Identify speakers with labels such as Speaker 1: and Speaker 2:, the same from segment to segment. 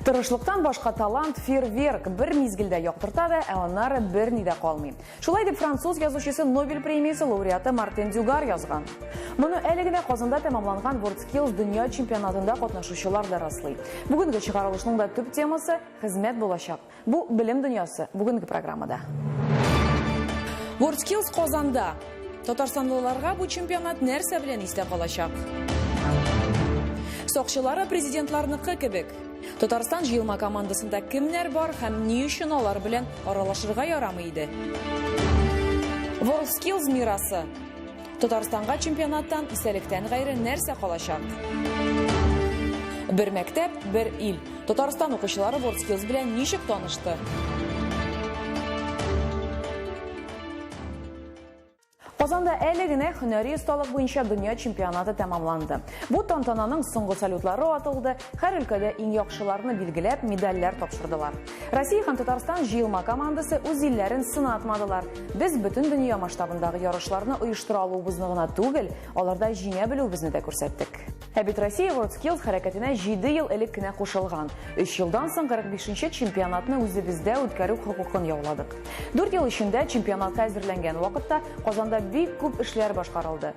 Speaker 1: Тырышлыктан башка талант фейерверк бер мизгелдә яктырта да, ә аннары берни дә калмый. Шулай дип француз язучысы Нобель премиясе лауреаты Мартин Дюгар язган. Моны әле генә Казанда тәмамланган WorldSkills дөнья чемпионатында катнашучылар да раслый. Бүгенге чыгарылышның да төп темасы хезмәт булачак. Бу белем дөньясы бүгенге программада. WorldSkills Казанда! Татарстанлыларга бу чемпионат нәрсә белән истә калачак? Сакчылары президентларныкы кебек. Татарстан җыелма командасында кемнәр бар һәм ни өчен алар белән аралашырга ярамый иде? WorldSkills мирасы! Татарстанга чемпионаттан исәлектән гайре нәрсә калачак? Бер мәктәп, бер ил. Татарстан укучылары WorldSkills белән ничек танышты? Казанда әле генә һөнәри осталык буенча дөнья чемпионаты тәмамланды. Бу тантананың соңгы салютлары атылды, Һәр өлкәдә иң яхшыларны билгеләп, медальләр тапшырдылар. Россия һәм Татарстан җыелма командасы үз илләрен сынатмадылар. Без бөтен дөнья масштабындагы ярышларны оештыра алуыбызны гына түгел, аларда җиңә белүебезне дә күрсәттек. Ә бит Россия WorldSkills хәрәкәтенә җиде ел элек кенә кушылган. Өч елдан соң 45 нче чемпионатны үзебездә үткәрү хокукын яуладык. Дүрт ел эчендә, чемпионатка әзерләнгән вакытта, Казанда бик күп эшләр башкарылды.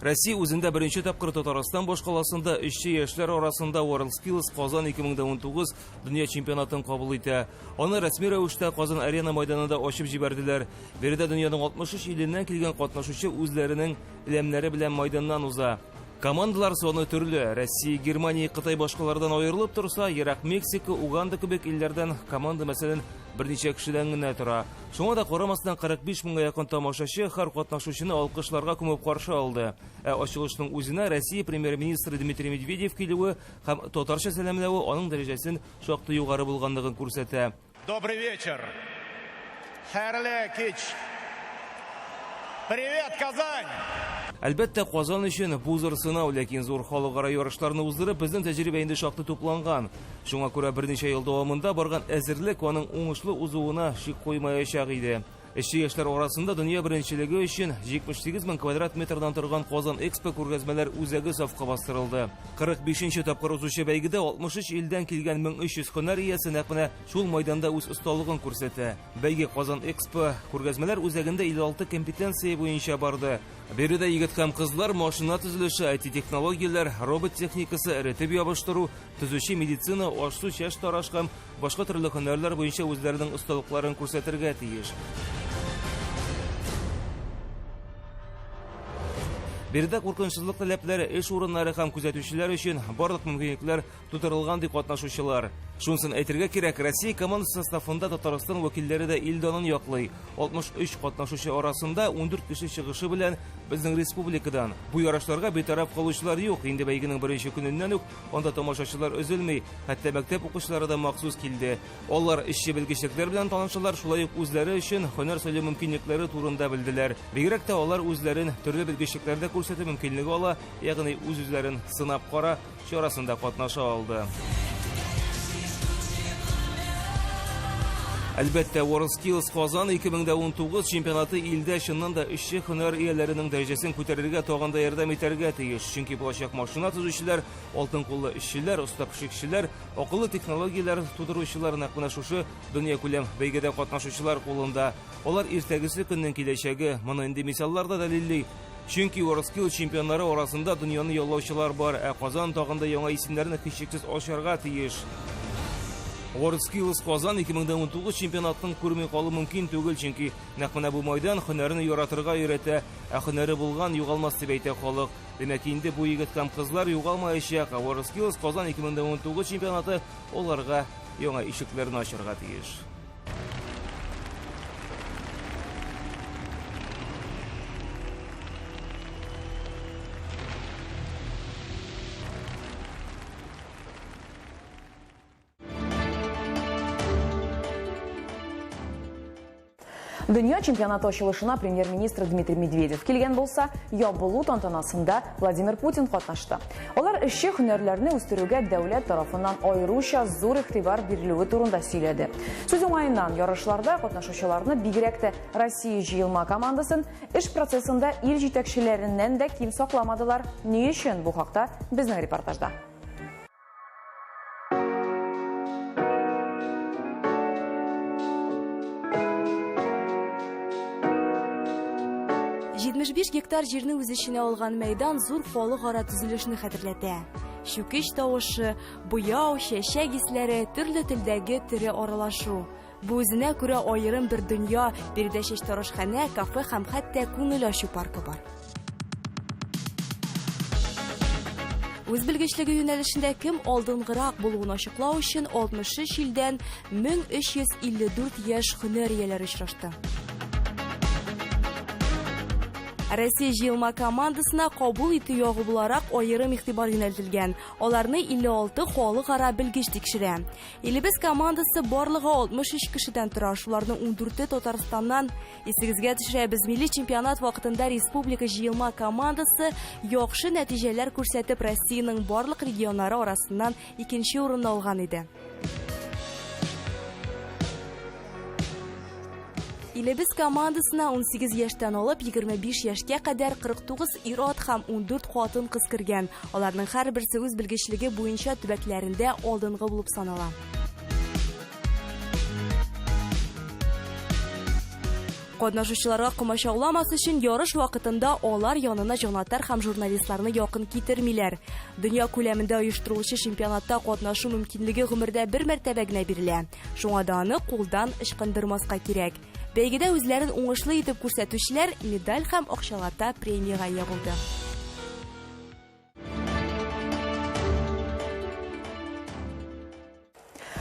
Speaker 2: Россия үзендә беренче тапкыр Татарстан башкаласында эшче яшьләр арасында WorldSkills Казан 2019 дөнья чемпионатын кабул итә. Аны рәсми рәвештә Казан Арена майданында ачып җибәрделәр. Биредә дөньяның 63 иленнән килгән катнашучы үзләренең ләмнәре белән майданнан уза. Командалар саны төрле. Россия, Германия, Кытай башкалардан аерылып торса, ерак Мексика, Уганда кебек илләрдән команда мәсәлән берничә кешедән генә тора. Шуңа да карамастан 45 меңгә якын тамашачы һәр катнашучыны алкышларга күмеп каршы алды. Ә ачылышның үзенә Россия премьер-министры Дмитрий Медведев килүе һәм татарча сәламләве аның дәрәҗәсен шактый югары булганлыгын күрсәтә. Добрый вечер.
Speaker 3: Хәерле кич. Привет, Казань! Әлбәттә,
Speaker 2: Казан өчен бу зур сынау, ләкин зур халыкара ярышларны уздырып, безнең тәҗрибә инде шактый тупланган. Шуңа күрә берничә ел дәвамында барган әзерлек аның уңышлы узуына шик куймаячак иде. Эшче яшьләр арасында дөнья беренчелеге өчен 78 мең квадрат метрдан торган Казан Экспо күргәзмәләр үзәге сафка бастырылды. 45 нче тапкыр узучы бәйгедә 63 илдән килгән 1300 һөнәр иясе нәкъ менә шул майданда үз осталыгын күрсәтә. Бәйге Казан Экспо күргәзмәләр үзәгендә 56 компетенция буенча барды. Биредә егет һәм кызлар машина төзелеше, IT-технологияләр, робот техникасы, эретеп ябыштыру, Төзүче, медицина, аш-су, чәч тараш һәм башка төрле һөнәрләр буенча үзләренең осталыкларын күрсәтергә тиеш. Биредә куркынычсызлык таләпләре эш урыннары һәм күзәтүчеләр өчен барлык мөмкинлекләр тудырылган, ди катнашучылар. Шунысын әйтергә кирәк, Россия командасы составында Татарстан вәкилләре дә ил данын яклый. 63 катнашучы арасында 14 кеше чыгышы белән безнең республикадан. Бу ярышларга битараф калучылар юк. Инде бәйгенең беренче көненнән үк Анда тамашачылар өзелми, хәтта мәктәп укучылары да махсус килде. Алар эшче белгечлекләр белән танышалар, шулай ук үзләре өчен һөнәр сайлау мөмкинлекләре турында белделәр. Бигрәк тә алар үзләрен төрле белгечлекләрдә күрсәтү мөмкинлеге ала, ягъни үз-үзләрен сынап кара чарасында катнаша алды. Әлбәттә, WorldSkills Казан 2019 чемпионаты илдә чыннан да эшче һөнәр ияләренең дәрәҗәсен күтәрергә тагын да ярдәм итәргә тиеш. Чөнки булачак машина төзүчеләр, алтын куллы эшчеләр, оста пешекчеләр, акыллы технологияләр тудыручылар нәкъ менә шушы дөньякүләм бәйгедә катнашучылар кулында. Алар иртәгесе көннең киләчәге, моны инде мисаллар да дәлилли. Чөнки WorldSkills чемпионнары арасында дөньяны яулаучылар бар, ә Казан тагын да яңа исемнәрне һичшиксез ачарга тиеш. WorldSkills Казан 2019 чемпионатын күрми калу мөмкин түгел, чөнки нәкъ менә бу мәйдан һөнәрне яратырга өйрәтә, Ә һөнәре булган, югалмас дип әйтә халык. Димәк, инде бу егет һәм кызлар югалмаячак, ә WorldSkills Казан 2019 чемпионаты аларга яңа ишекләрне ачарга тиеш.
Speaker 1: Дөнья чемпионаты ачылышына премьер-министр Дмитрий Медведев килгән булса, ябылу тантанасында Владимир Путин катнашты. Алар эшче һөнәрләрне үстерүгә дәүләт тарафыннан аеруча зур игътибар бирелүе турында сөйләде. Сүз уңаеннан ярышларда катнашучыларны бигрәк тә Россия җыелма командасын эш процессында ил җитәкчеләреннән дә ким сакламадылар. Ни өчен бу хакта безнең репортажда.
Speaker 4: Җитмеш биш гектар җирне үз эченә алган мәйдан зур халыкара төзелешне хәтерләтә. Чүкеч тавышы, буяу, чәчәк исләре, төрле телдәге тере аралашу. Бу үзенә күрә аерым бер дөнья, биредә чәчтарашханә, кафе һәм хәтта күңел ачу паркы бар. Үз белгечлеге юнәлешендә кем алдынгырак булуын ачыклау өчен 63 илдән 1354 яшь һөнәр ияләре очрашты. Россия җыелма командасына кабул итү ягы буларак аерым игътибар юнәлтелгән. Аларны 56 халыкара белгеч тикшерә. Илебез командасы барлыгы 63 кешедән тора, шуларның 14-е Татарстаннан. Исегезгә төшерәбез, милли чемпионат вакытында республика җыелма командасы яхшы нәтиҗәләр күрсәтеп, Россиянең барлык регионнары арасыннан икенче урынны алган иде. Илебез командасына 18 яшьтән алып 25 яшькә кадәр 49 ир-ат һәм 14 хатын-кыз кергән. Аларның һәрберсе үз белгечлеге буенча төбәкләрендә алдынгы булып санала. Катнашучыларга комачауламас өчен ярыш вакытында алар янына җанатар һәм журналистларны якын китермиләр. Дөнья күләмендә оештырылучы чемпионатта катнашу мөмкинлеге гомердә бер мәртәбә генә бирелә. Шуңа да аны кулдан ычкындырмаска кирәк. Бәйгедә үзләрен уңышлы итеп күрсәтүчеләр медаль һәм акчалата премиягә ия булды.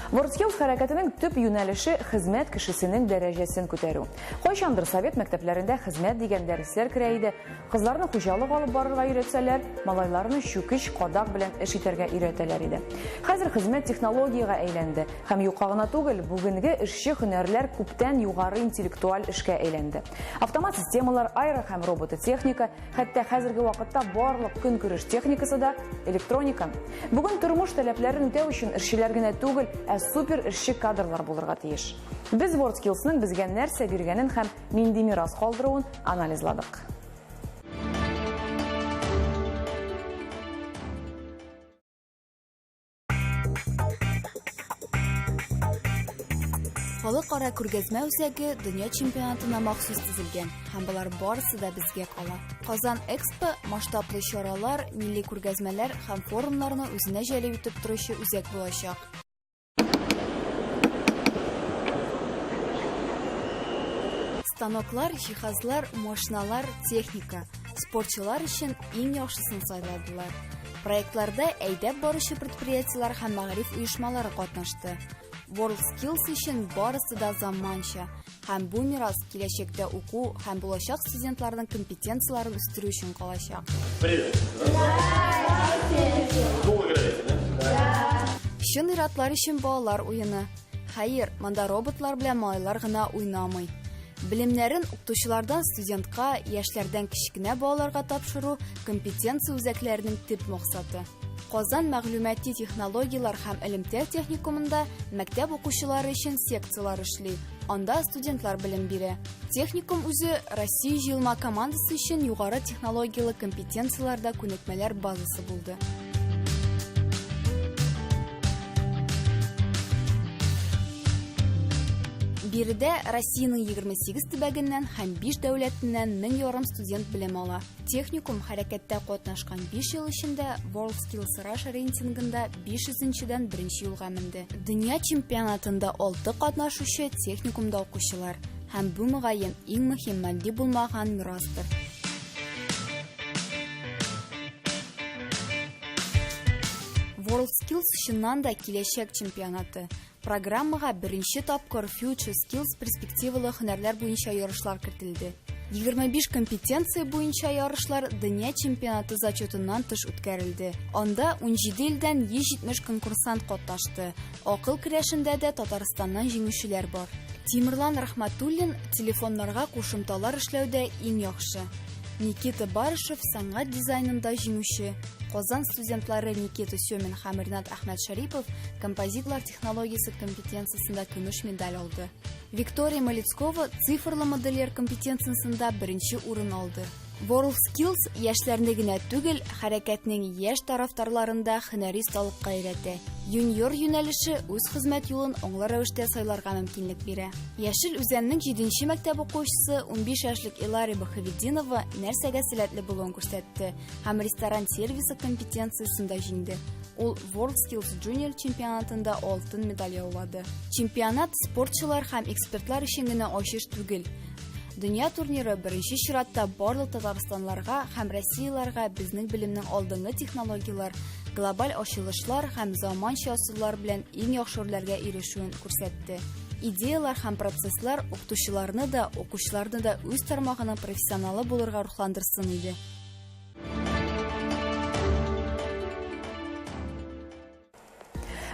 Speaker 1: Вордскилс хәрәкәтенең төп юнәлеше хезмәт кешесенең дәрәҗәсен күтәрү. Кайчандыр совет мәктәпләрендә хезмәт дигән дәресләр керә иде. Кызларны хуҗалык алып барырга өйрәтсәләр, малайларны чүкеч, кадак белән эш итәргә өйрәтәләр иде. Хәзер хезмәт технологиягә әйләнде, һәм юка гына түгел, бүгенге эшче һөнәрләр күптән югары интеллектуаль эшкә әйләнде. Автомат системалар, аэро һәм робототехника, хәтта хәзерге вакытта барлык көнкүреш техникасы да, электроника. Бүген тормыш таләпләрен үтәү өчен эшчеләр генә түгел, ә супер эшче кадрлар булырга тиеш. Без WorldSkills-ның безгә нәрсә биргәнен һәм нинди мирас калдыруын анализладык.
Speaker 4: Халыкара күргәзмә үзәге дөнья чемпионатына махсус төзелгән һәм болар барысы да безгә кала. Казан Экспо масштаблы чаралар, милли күргәзмәләр һәм форумнарны үзенә җәлеп итеп торучы үзәк булачак. Станоклар, җиһазлар, машиналар, техника. Спортчылар өчен иң яхшысын сайладылар. Проектларда әйдәп баручы предприятиеләр һәм мәгариф оешмалары катнашты. WorldSkills өчен барысы да заманча, Һәм бу мирас киләчәктә уку һәм булачак студентларның компетенцияләрен үстерү өчен калачак.
Speaker 3: Привет. Чын иратлар
Speaker 4: өчен балалар уены. Хәер, монда роботлар белән малайлар гына уйнамый. Белемнәрен укытучылардан студентка, яшьләрдән кечкенә балаларга тапшыру компетенция үзәкләренең төп максаты. Казан мәгълүмати технологияләр һәм элемтә техникумында мәктәп укучылары өчен секцияләр эшли, анда студентлар белем бирә. Техникум үзе Россия җыелма командасы өчен югары технологияле компетенцияләрдә күнекмәләр базасы булды. Биредә Россиянең 28 төбәгеннән һәм 5 дәүләтеннән мең ярым студент белем ала. Техникум хәрәкәттә катнашкан 5 ел эчендә World Skills Russia рейтингында 500-дән беренче юлга менде. Дөнья чемпионатында 6 катнашучы техникумда укучылар һәм бу мөгаен иң мөһим матди булмаган мирастыр. WorldSkills чыннан да киләчәк чемпионаты. Программага беренче тапкыр Future Skills перспективалы һөнәрләр буенча ярышлар кертелде. 25 компетенция буенча ярышлар дөнья чемпионаты зачетыннан тыш үткәрелде. Анда 17 илдән 170 конкурсант катнашты. Акыл көрәшендә дә Татарстаннан җиңүчеләр бар. Тимерлан Рахматуллин телефоннарга кушымталар эшләүдә иң яхшы. Никита Барышев сәнгать дизайнында җиңүче, Казан студентлары Никита Сёмин һәм Ренат Әхмәт Шәрипов композитлар технологиясе компетенциясендә көмеш медаль алды. Виктория Малецкова цифрлы модельер компетенциясендә беренче урын алды. World Skills яшьләрне генә түгел, хәрәкәтнең яшь тарафдарларында хөнәри осталыкка өйрәтә. Юниор юнәлеше үз хезмәт юлын аңлы рәвештә сайларга мөмкинлек бирә. Яшел Үзәннең 7 мәктәп укучысы 15 яшьлек Илари Бахаведдинова нәрсәгә сәләтле булуын күрсәтте. һәм ресторан сервисы компетенциясендә җиңде. Ул World Skills Junior чемпионатында алтын медаль яулады. Чемпионат спортчылар һәм экспертлар өчен генә ачыш түгел. Дөнья турниры беренче чиратта барлык татарстанларга һәм россияләргә безнең белемнең алдынгы технологияләр, глобаль ачылышлар һәм заманча ысуллар белән иң яхшы үрләргә ирешүен күрсәтте. Идеяләр һәм процесслар укытучыларны да, укучыларны да үз тармагының профессионалы булырга рухландырсын иде.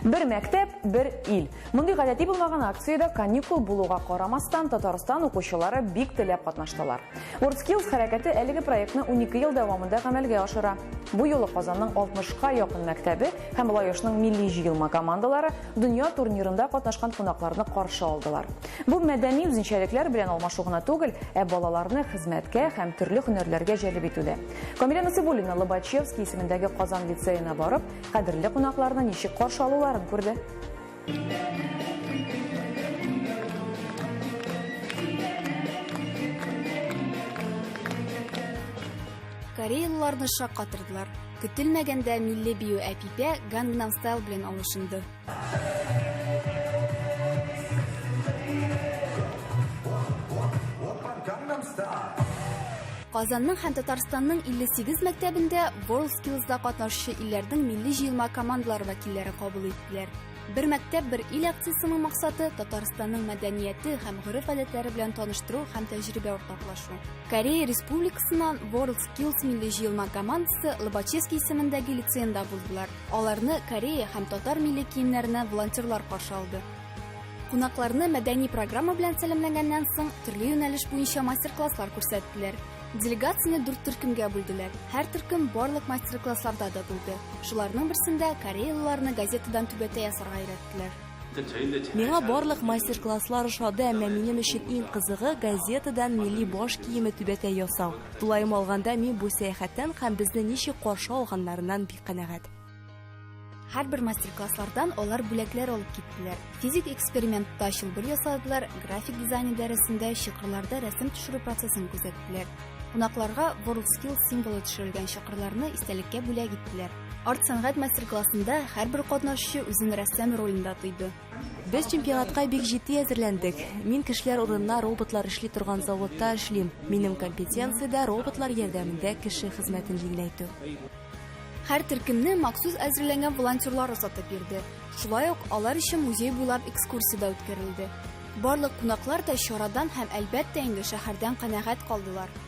Speaker 1: Бер мәктәп, бер ил. Мондый гадәти булмаган акциядә каникул булуга карамастан Татарстан укучылары бик теләп катнаштылар. WorldSkills хәрәкәте әлеге проектны 12 ел дәвамында гамәлгә ашыра. Бу юлы Казанның 60 ка якын мәктәбе һәм Лаешның милли җыелма командалары дөнья турнирында катнашкан кунакларны каршы алдылар. Бу мәдәни үзенчәлекләр белән алмашу гына түгел, ә балаларны хезмәткә һәм төрле һөнәрләргә җәлеп итү дә. Камилә Насыйбуллина Лобачевский исемендәге Казан лицеена барып, кадерле кунакларны ничек каршы алуларын күрде.
Speaker 4: Кореялыларны шаккатырдылар. Көтелмәгәндә милли бию Әпипә Gangnam Style белән алышынды. Казанның һәм Татарстанның 58 мәктәбендә WorldSkills-да катнашучы илләрнең милли җыелма командалары вәкилләре кабул иттеләр. Бер мәктәп, бер ил акциясенең максаты Татарстанның мәдәнияте һәм гореф-гадәтләре белән таныштыру һәм тәҗрибә уртаклашу. Корея Республикасыннан World Килс милли җыелма командасы Лобачевский исемендәге лицеенда булдылар. Аларны Корея һәм татар милли киемнәренә волонтерлар каршы алды. Кунакларны мәдәни программа белән сәламләгәннән соң, төрле юнәлеш буенча мастер-класслар күрсәттеләр. Делегацияне дүрт төркемгә бүлделәр. Һәр төркем барлык мастер-классларда да булды. Шуларның берсендә кореялыларны газетадан түбәтәй ясарга өйрәттеләр. Миңа барлык
Speaker 5: мастер-класслар ошады, әмма минем өчен иң кызыгы газетадан милли баш киеме түбәтәй ясау. Тулаем алганда, мин бу сәяхәттән һәм безне ничек каршы алганнарыннан бик канәгать.
Speaker 4: Һәрбер мастер-класслардан алар бүләкләр алып киттеләр. Физик экспериментта чылбыр ясадылар, график дизайны дәресендә чокырларда рәсем төшерү процессын күзәттеләр. Кунакларга WorldSkills символы төшерелгән чокырларны истәлеккә бүләк иттеләр. Арт сәнгать мастер-классында һәрбер катнашучы үзен рәссам ролендә тойды. Без чемпионатка
Speaker 5: бик җитди әзерләндек. Мин кешеләр урынына роботлар эшли торган заводта эшлим. Минем компетенция дә роботлар ярдәмендә кеше хезмәтен җиңеләйтү.
Speaker 4: Һәр төркемне махсус әзерләнгән волонтерлар озатып бирде. Шулай ук алар өчен музей буйлап экскурсия дә үткәрелде. Барлык кунаклар да чарадан һәм, әлбәттә инде, шәһәрдән канәгать калдылар.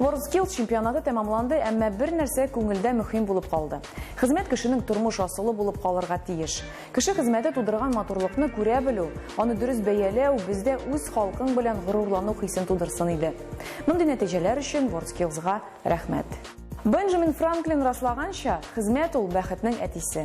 Speaker 1: WorldSkills чемпионаты тәмамланды, әмма бер нәрсә күңелдә мөһим булып калды. Хезмәт кешенең тормыш асылы булып калырга тиеш. Кеше хезмәте тудырган матурлыкны күрә белү, аны дөрес бәяләү бездә үз халкың белән горурлану хисен тудырсын иде. Мондый нәтиҗәләр өчен WorldSkills-га рәхмәт. Бенджамин Франклин раслаганча, хезмәт ул бәхетнең әтисе.